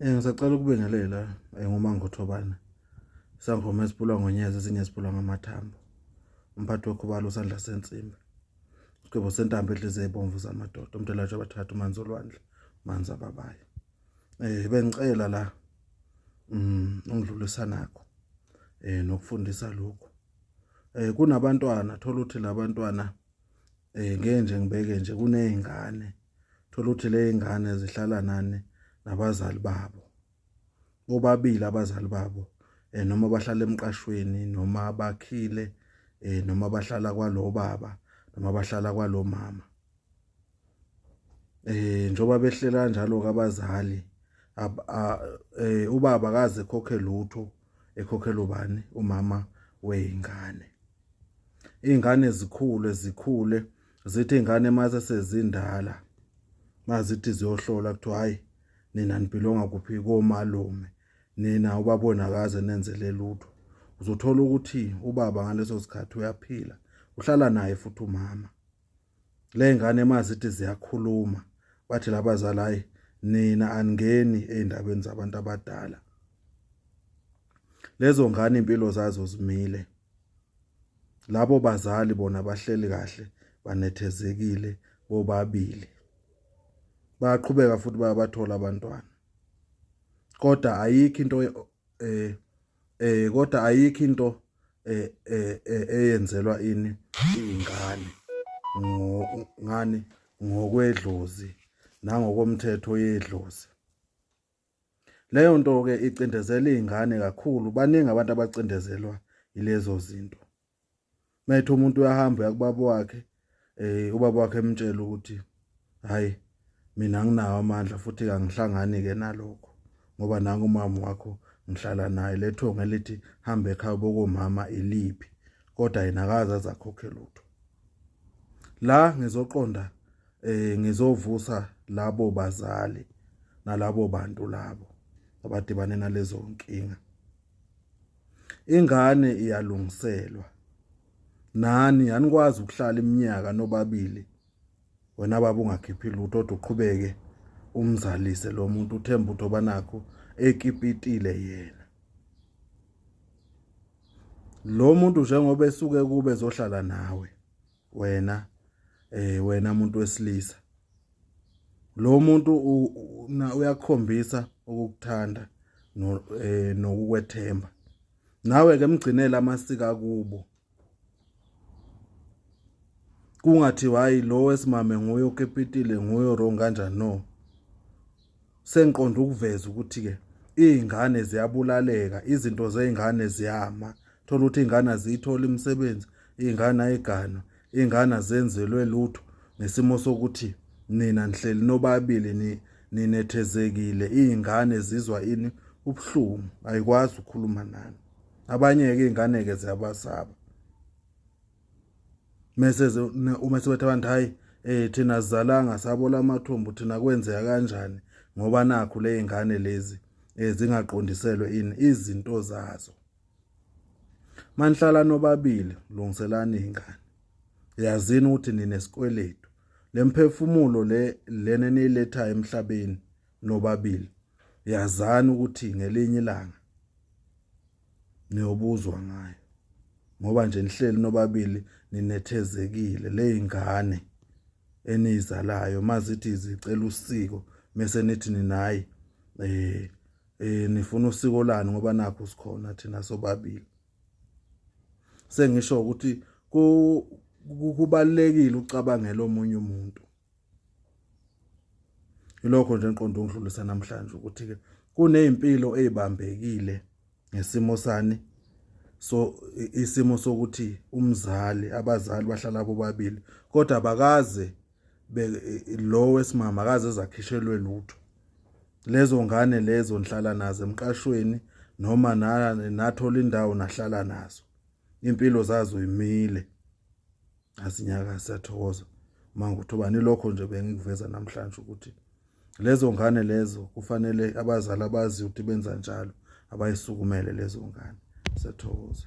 Eh ngisacela ukubingelela eh, ngomangothobana. Sangoma esipulwa ngonyeza ezinye esipulwa ngamathambo. Umphathi wokhubalo usandla sensimbi. Sigwebo sentambo edlize ebomvu zamadoda umntelatshe abathathu manzi olwandle manzi ababaye. Eh bengicela la mm ungidlulisa nakho. Eh nokufundisa lokho. Eh kunabantwana thola ukuthi labantwana eh ngeke nje ngibeke nje kunezingane thola ukuthi lezingane zihlala nani nabazali babo bobabili abazali babo eh noma bahlala emqashweni noma bakhile eh noma bahlala kwalobaba noma bahlala kwalomama eh njoba behlela kanjalo kabazali eh ubaba kaze khokhe lutho ekhokhela ubani umama weingane ingane zikhule zikhule zithi ingane mase sezindala mazithi ziyohlola kuthiwa hayi nina nibhilonga kuphi komalume nina ubabona kaze nenzele lutho uzothola ukuthi ubaba ngaleso sikhathi uyaphila uhlala naye futhi umama le ngane mazithi ziyakhuluma bathi labazali hayi nina aningeni eindabeni zabantu abadala lezo ngane impilo zazo zimile labo bazali bona bahleli kahle banethezekile bobabili bayaqhubeka futhi bayabathola abantwana kodwa ayikho into eh eh kodwa ayikho into eh, eh, eh eyenzelwa ini ingane ngani ngokwedlozi nangokomthetho yedlozi leyo nto ke icindezela izingane kakhulu baningi abantu abacindezelwa ilezo zinto Methe umuntu uyahamba yakubaba wakhe eh ubaba wakhe emtshela ukuthi hayi mina nginawo amandla futhi kangihlangani ke nalokho ngoba nangu umama wakho ngihlala naye lethonga elithi hambe ekhaya bokomama iliphi kodwa yena akaze azakhokhe lutho la ngizoqonda eh ngizovusa labo bazali nalabo bantu labo abadibane nalezo nkinga ingane iyalungiselwa nani anikwazi ukuhlala iminyaka nobabili wena baba ungakhiphi lutho kodwa uqhubeke umzalise lo muntu uthemba ukuthi obanakho ekipitile yena lo muntu njengoba esuke kube ezohlala nawe wena eh wena umuntu wesilisa lo muntu uyakhombisa ukukuthanda eh, nokukwethemba nawe ke mgcinele amasika kubo kungathi hayi lo wesimame nguye okepitile nguye wrong kanjani no sengiqonda ukuveza ukuthi-ke iy'ngane ziyabulaleka izinto zey'ngane ziyama thola ukuthi iy'ngane aziyitholi imisebenzi iy'ngane ayigana iy'ngane azenzelwe lutho ngesimo sokuthi nina nihleli nobabili ninethezekile iy'ngane zizwa ini ubuhlungu ayikwazi ukukhuluma nani abanye-ke iy'ngane-ke ziyabasaba mese uma sebethe abantu hayi eh thina sizalanga sabola amathumbu thina kwenzeka kanjani ngoba nakho lezingane lezi ezingaqondiselwe eh, ini izinto zazo manhlala nobabili lungiselani ingane yazini ukuthi nine sikweletu lemphefumulo le lene niletha emhlabeni nobabili yazani ukuthi ngelinye ilanga niyobuzwa ngayo ngoba nje nihleli nobabili ninethezekile leyingane enizalayo mazithi zicela usiko mese nithi ninayi eh eh nifuna usiko lani ngoba nakho sikhona thina sobabili sengisho ukuthi kubalekile ucabangela omunye umuntu Ilokho nje enqondo ngidlulisa namhlanje ukuthi ke kunezimpilo ezibambekile ngesimo sani so isimo sokuthi umzali abazali bahlala bobabili kodwa bakaze lo wesimama akaze zakhishelwe lutho lezo ngane lezo nhlala nazo emqashweni noma nathola indawo nahlala nazo impilo zazo imile asinyaka siyathokoza manje uthobani lokho nje bengikuveza namhlanje ukuthi lezo ngane lezo kufanele abazali abazi ukuthi benza njalo abayisukumele lezo ngane siyathokoza